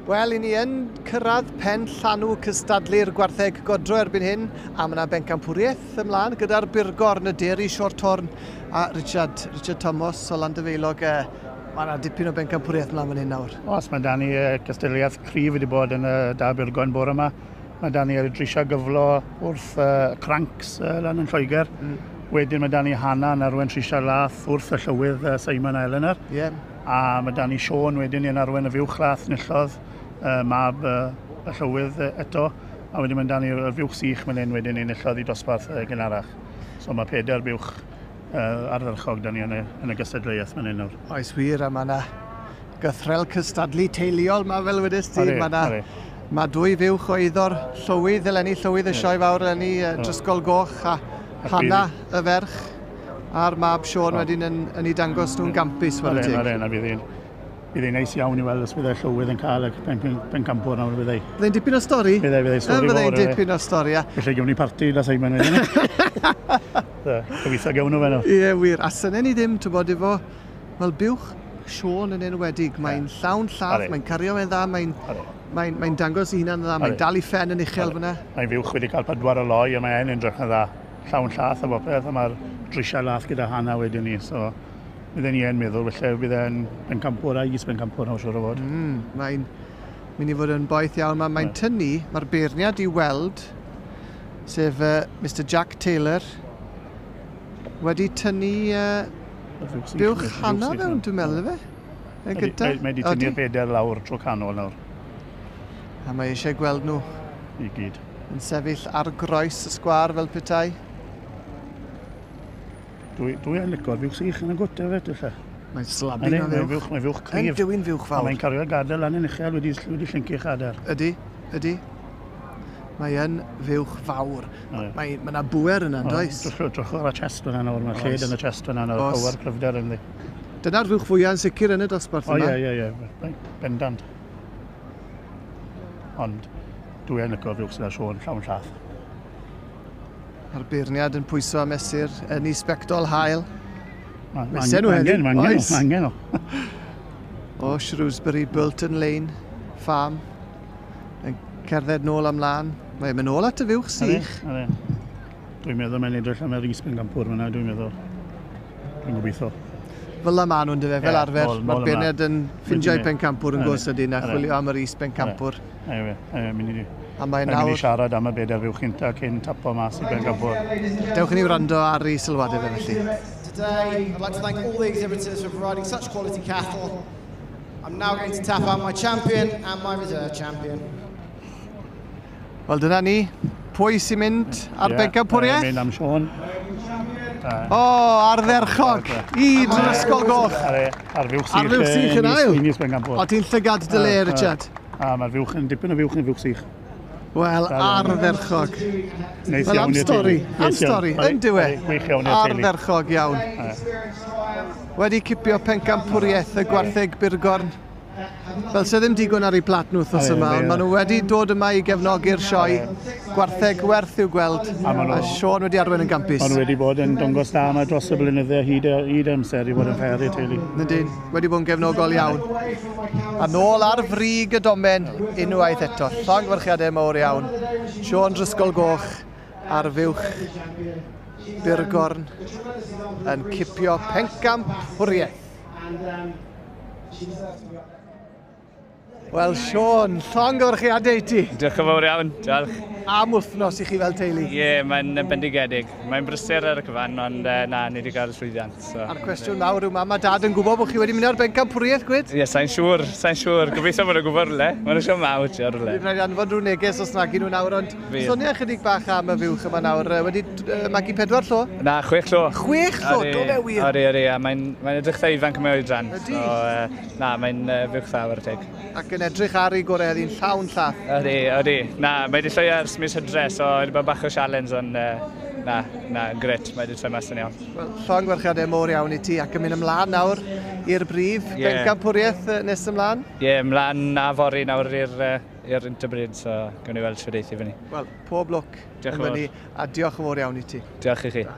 Wel, i ni yn cyrraedd pen llanw cystadlu'r gwartheg godro erbyn hyn, a mae yna bencampwriaeth ymlaen gyda'r burgor yn y dir i Sior Torn a Richard, Richard Thomas o Landefeilog. E, mae yna dipyn o bencampwriaeth ymlaen fan hyn nawr. Os mae Dani e, cystadleuaeth cryf wedi bod yn y da burgor yn bore yma. Mae Dani wedi drisio gyflo wrth y crancs lan yn Lloegr. Mm. Wedyn ma' 'da ni Hannah yn arwen Trisia'r Lath wrth y llywydd yy Simon a Eleanor. Ie. A ma' 'da ni Siôn wedyn yn arwen y fuwch lath nillodd yy mab yy y llywydd yy eto a wedyn ma' 'da ni y fuwch sych myn 'yn wedyn enillodd i dosbarth yy gynharach. So ma' peder buwch yy ardderchog 'da ni yn y yn y gystadleuaeth myn 'yn nawr. Oes wir a ma' 'na gythrel cystadlu teuluol ma fel wedys ti. Mae na, mae dwy fuwch o eiddo'r llywydd eleni, llywydd y sioe fawr eleni, uh, Drysgol Goch a Hanna y ferch a'r mab Sean wedyn yn, yn ei dangos nhw'n gampus fawr y teg. Mae'n rhaid, bydd hi'n bydd hi'n neis iawn i weld os bydd y llywydd yn cael y pen, pen, pen campwr nawr bydd ei. Bydd e'n dipyn o stori. Bydd ei, bydd ei stori fawr. Bydd e'n dipyn o stori, ia. Felly gewn ni parti da Simon wedyn. Gobeithio gewn nhw fe nhw. Ie, wir. A syne ni ddim, ti'n bod, efo Wel buwch Siôn yn enwedig, mae'n llawn llaff, mae'n cario fe'n dda, mae'n mae, mae dangos ei hunan yn dda, mae'n dal i ffen yn uchel fyna. Mae'n fuwch wedi cael pedwar o loi a mae e'n edrych yn dda. Llawn llath a bopeth a mae'r drisiau lath gyda Hana wedyn ni. So, bydden ni e'n meddwl, felly bydd e'n bencampwr a is-bencampwr nawr siwr o fod. Mm, mae'n mynd i fod yn boeth iawn. Mae'n mae tynnu, mae'r beirniad i weld, sef uh, Mr Jack Taylor, wedi tynnu uh, Dewch hana mewn, dwi'n meddwl, efe? Mae gyda... Mae wedi tynnu'r bedair lawr tro canol nawr. A mae eisiau gweld nhw. I gyd. Yn sefyll ar groes y sgwar fel petai. Dwi, dwi yn licor fiwch sych yn y gwta fe, dylla. Mae'n slabu na fiwch. fiwch. Mae'n fiwch cryf. Yn dywyn fiwch fawr. Mae'n cario gadael lan yn uchel wedi, wedi llyncu chadair. Ydy, ydy. Mae yn fuwch fawr. Mae, mae, mae yna bwer yna, yn does? Drwch o'r chest fyna nawr, mae lled yn y chest fyna nawr, Os. power cryfder yn ddi. Dyna'r fuwch fwyaf yn sicr yn y dosbarth yma. O, ie, ie, ie, bendant. Ond dwi yn licor fuwch sydd â Sean llawn llath. Mae'r beirniad yn pwyso a mesur yn ei sbectol hael. Mae sen nhw hefyd. Mae angen, mae angen o. o Shrewsbury Burton Lane Farm. Mae'n cerdded nôl am lan. Mae'n mynd nôl at y fuwch sych. Are, are. Dwi'n meddwl mae'n edrych am yr isbyn gampwr fyna, dwi'n meddwl. Dwi'n gobeithio. Fel yma nhw'n dyfa, fel arfer. Mae'r bened yn ffindio'i pen campwr yn gwrs ydyn a chwilio am yr isbyn campwr. Ie, ie, ie, mynd i di. A mae'n nawr... Mae'n siarad am y bedair fuwch cynta cyn tapo mas i ben gampwr. Dewch i ni wrando ar ei sylwadau fe felly. Today, I'd like to thank all the exhibitors for providing such quality cattle. I'm now going to tap out my champion and my reserve champion. Wel dyna ni, pwy sy'n mynd ar yeah, bengau pwriaeth? Ie, mynd am Sean. O, oh, ardderchog, i drwy'r ysgol goch. Ar fuwch sych. Ar fuwch sych yn ail. O, ti'n llygad dy le, Richard. A mae'r fuwch yn dipyn o fuwch yn fuwch sych. Wel, ardderchog. Neis Wel, am stori, am stori, yn diwe. Gwych iawn i'r teulu. Ardderchog iawn. Wedi cipio pencampwriaeth y gwartheg Burgorn. Fel sydd ddim digon ar ei plat nhw wrthnos yma, ond maen nhw wedi dod yma i gefnogi'r sioe. Gwartheg werth i'w gweld, a Sean wedi arwain yn gampus. Ond wedi bod yn dongos da yma dros y blynydde hyd, hyd amser i fod yn fer i'r teulu. Nid wedi bod yn gefnogol iawn. A nôl ar frig y domen unwaith eto. Llongyfarchiadau mawr iawn. Sean Drisgol Goch ar fuwch Burgorn yn cipio pencamp hwriaeth. Wel, Sean, llongyfarchiadau i ti. Diolch yn fawr iawn, diolch. Am wythnos i chi fel teulu. Ie, yeah, mae'n bendigedig. Mae'n brysur ar y cyfan, ond uh, na, ni wedi cael llwyddiant. So. A'r cwestiwn nawr yw mam a dad yn gwybod bod chi wedi mynd ar bencampwriaeth gwyd? Ie, yeah, sa'n siŵr, sa'n siŵr. Gobeithio bod nhw'n gwybod rhywle. Mae'n siŵr mawr ti ar rhywle. Dwi'n rhaid anfon rhyw neges os nag nhw nawr, ond sonia chydig bach am y fiwch yma nawr. Wedi uh, magu pedwar llo? Na, chwech llo. Chwech llo, do fe wir? Ori, ori, a mae'n mae edrych dda ifanc yma o'i dran. Ydy. So, uh, na, mae'n uh, fiwch dda o'r teg. Ac yn edrych ar ei gore heddi'n llawn llath. Ydy, ydy. Na, mae wedi llwio ers mis hydre, so wedi bod bach o sialens, ond uh, na, na, gret, mae wedi troi mas yn iawn. Wel, llon gwerchiadau mor iawn i ti, ac yn mynd ymlaen nawr i'r brif yeah. bencampwriaeth nes ymlaen? Ie, yeah, ymlaen a fori nawr i'r uh, i'r Interbreed, so gwn i weld sydd eithi fyny. Wel, pob lwc yn fyny, a diolch yn fawr iawn i ti. Diolch i chi. Da.